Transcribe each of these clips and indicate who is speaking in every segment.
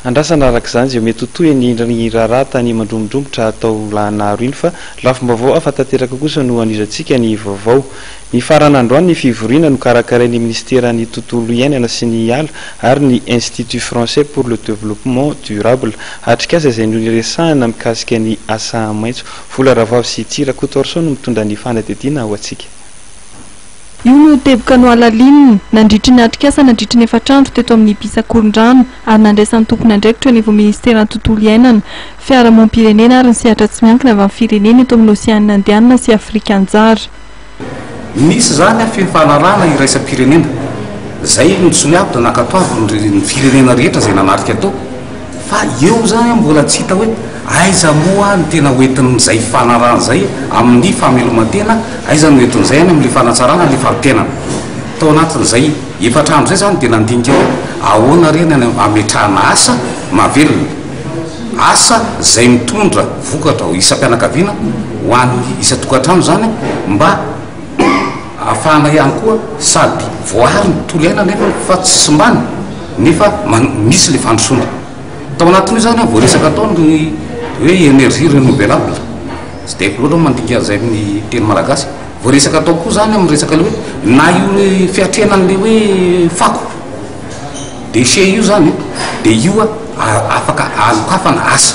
Speaker 1: Andrasana araka izany izay mety ho toy an'iny raharaha tany Mandromodromotra tao Lahanaro iny fa lafim-baovao hafa tanteraka kosa no anizantsika ny vaovao. Nifarana androany ny fivoriana nokarakarain'ny Minisiteran'ny Tontolo iainana sy ny ala ary ny Institut Français pour le Développement Durable. Atrikasa izay no niresahana mikasika ny asa maitso. Vola Ravavy sy Tsy Rakotoarison no mitondra ny fanadihadiana ho antsika.
Speaker 2: Io no teboka nohalalininy nandritry ny atrikasa nandritry ny efatr'andro teto amin'ny Bis Akorondrano ary nandraisan'ny tompon'andraikitra eo anivon'ny Ministeran'ny Tontolo Iainana, Fiarahamonim-pirenena ary ny Sehatra Tsy Miankina avy amin'ny Firenena eto amin'ny Oseanina Indianina sy Afrika Anjara.
Speaker 3: Nisy izany aho feno fahalalahana iraisam-pirenena. Izay no tsy ho avy raha nankatoavin'ny firenena rehetra izay nanatrika tao. Fa eo zany mbola tsy hita hoe aiza moa ny tena hoentin'izay fifanarahana izay amin'ny fameloman-tena, aiza no entin'izay any amin'ilay fanatsarana ilay fari-piainana. Tao anatin'izay efatra andro izay izany dia nandinika hoe ahoana re ny hametrahana asa mahavelona, asa izay mitondra vokatra ho isam-pianakaviana, ho an'ny isan-tokantrano izany mba Afahana ihany koa sady voaaro ny tontolo iainana eto fa tsy simbana nefa misy ilay fandrosoana. Tao anatin'io izany vao resaka tao ny hoe énergie renouvelable, tsy dia haiko loatra ny mandika an'izay amin'ny teny malagasy. Vao resaka tao koa izany amin'ny resaka ilay hoe na io fiatrehana an'ilay hoe fako, déchets, io izany dia io afaka hanokafana asa.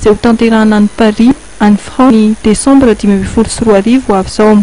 Speaker 2: izay hotanterahina any Paris, any Frantsa, ny Desambra dimy ambin'ny folo sy roa arivo ho avy izao.